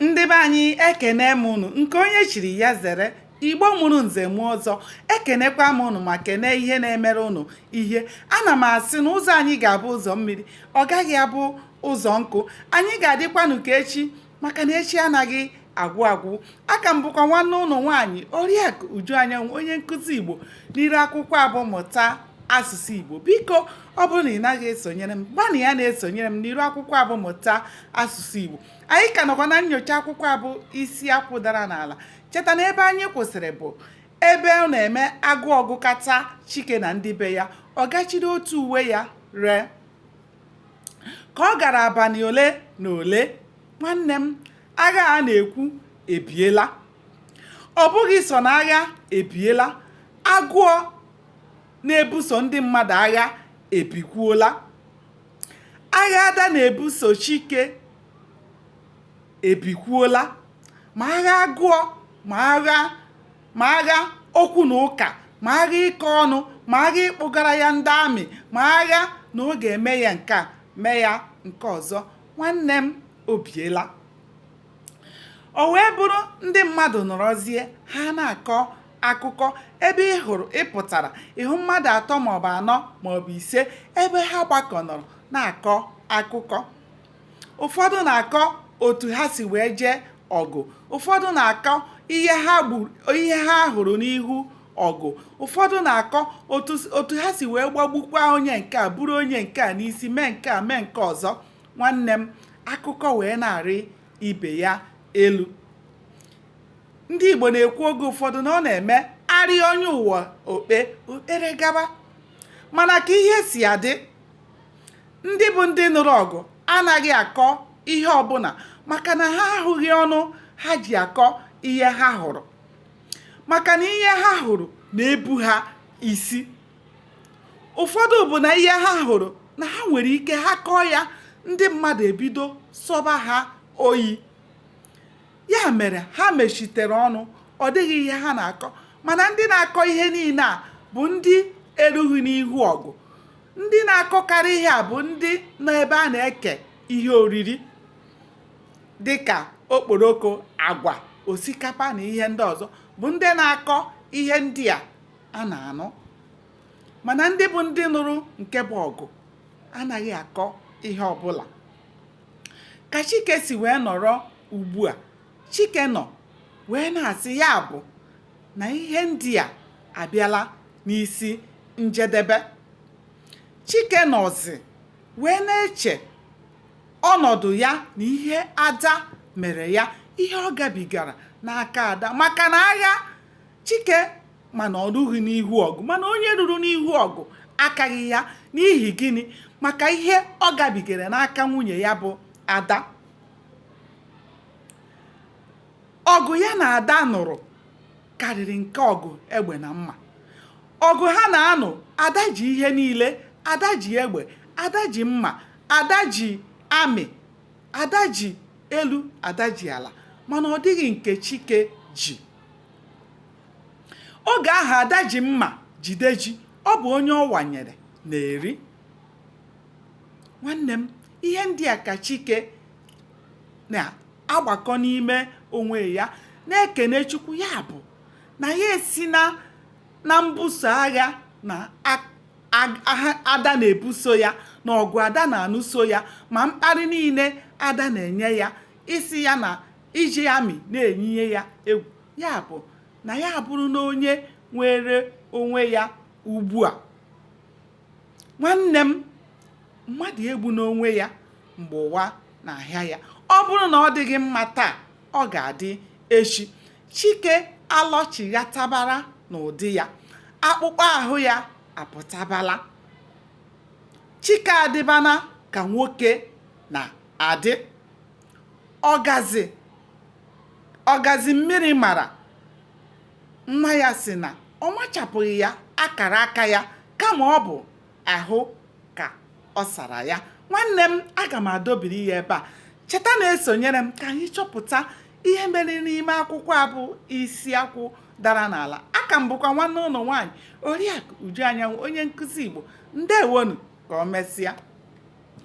ndị be anyị ekene m unu nke onye chiri ya zere igbo mụrụ nze mụọ ọzọ ekenekwa m ụnụ ma kenee ihe na-emere ụnụ ihe ana m asị na ụzọ anyị ga-abụ ụzọ mmiri ọ gaghị abụ ụzọ nkụ anyị ga-adịkwanụ ka echi maka na echi anaghị agwụ agwụ aka m bụkwa nwanne ụnụ nwaanyị oriakụ uju anyanwụ onye nkụzi igbo n'iru akwụkwọ a bụ mụta asụsụ igbo biko ọ bụrụ na ị naghị esonyere m gbanịa na-esonyere m n'iru akwụkwọ a bụ mụta asụsụ Igbo anyị ka nọkwa na nyocha akwụkwọ a bụ isi akwụ dara n'ala cheta na ebe anyị kwụsịrị bụ ebe ọ na-eme agụọ gụkata chike na ndị be ya ọ gaa chịrị otu uwe ya ree ka ọ gara abalị ole na ole nwanne m agha a na-ekwu ebiela ọ bụghị sọ na agha ebiela agụọ na-ebuso ndị mmadụ agha ebikwuola agha ada na-ebuso chike ebikwuola ma agha agụọ ma agha ma agha okwu na ụka ma agha ịkọ ọnụ ma agha ịkpụgara ya ndị amị ma agha na ọ ga-eme ya nke a mee ya nke ọzọ nwanne m o biela o wee bụrụ ndị mmadụ nọrọzie ha na-akọ akụkọ ebe ị hụrụ ị pụtara ị hụ mmadụ atọ maọbụ anọ maọbụ ise ebe ha gbakọ nọrọ na-akọ akụkọ ụfọdụ na-akọ otu ha si wee jee ọgụ ụfọdụ na-akọ ihe ha gburu ihe ha hụrụ n'ihu ọgụ ụfọdụ na-akọ otu otu ha si wee gbagbukwa onye nke a buru onye nke a n'isi mee nke a mee nke ọzọ nwanne m akụkọ wee na-arị ibe ya elu ndị Igbo na-ekwu oge ụfọdụ na ọ na-eme arịa onye ụwa okpe okpere gaba mana ka ihe si adị ndị bụ ndị nụrụ ọgụ anaghị akọ ihe ọbụla maka na ha ahụghị ọnụ ha ji akọ ihe ha hụrụ maka na ihe ha hụrụ na-ebu ha isi ụfọdụ bụ na ihe ha hụrụ na ha nwere ike ha kọọ ya ndị mmadụ ebido sọba ha oyi Ya mere ha mechitere ọnụ, ọ dịghị ihe ha na-akọ. Mana ndị na-akọ ihe niile a bụ ndị erughị n'ihu ọgụ. Ndị na-akọkarị ihe a bụ ndị nọ ebe a na-eke ihe oriri dị ka okporoko, agwa, osikapa na ihe ndị ọzọ bụ ndị na-akọ ihe ndị a a na-anụ. Mana ndị bụ ndị nụrụ nke bụ ọgụ anaghị akọ ihe ọbụla ka chike si wee nọrọ ugbu a chike nọ wee na-asị ya bụ na ihe ndị a abịala n'isi njedebe chike nọzi wee na-eche ọnọdụ ya na ihe ada mere ya ihe ọ gabigara n'aka ada maka na agha chike mana o rughị n'ihu ọgụ mana onye ruru n'ihu ọgụ akaghị ya n'ihi gịnị maka ihe ọ gabigara n'aka nwunye ya bụ ada ọgụ ya na ada nụrụ karịrị nke ọgụ egbe na mma ọgụ ha na-anụ ada ji ihe niile ada ji egbe ada ji mma ada ji amị ada ji elu ada ji ala mana ọ dịghị nke chike ji oge ahụ ada ji mma jide ji ọ bụ onye ọ wanyere na-eri nwanne m ihe ndị a ka chike na-agbakọ n'ime onwe ya na-ekene chukwu ya bụ na ya esina na mbuso agha na ada na-ebuso ya na ọgụ ada na-anụso ya ma mkparị niile ada na-enye ya isi ya na iji amị na-enyiye ya egwu ya bụ na ya abụrụna onye nwere onwe ya ugbu a nwanne m mmadụ egbuna onwe ya mgbe ụwa na-ahịa ya ọ bụrụ na ọ dịghị mma taa ọ ga-adị echi chike alọchighatabara n'ụdị ya akpụkpọ ahụ ya apụtabala chike adịbana ka nwoke na-adị ọgazị ọgazị mmiri mara nwa ya sị na ọ machapụghị ya akara aka ya kama ọ bụ ahụ ka ọ sara ya nwanne m aga m adọbiri ya ebe a cheta na-esonyere m ka anyị chọpụta ihe mere n'ime akwụkwọ a bụ isi akwụ dara n'ala aka m bụkwa nwanne unu nwaanyị oriakụ uju anyanwụ onye nkụzi igbo ndewo nụ ka o mesịa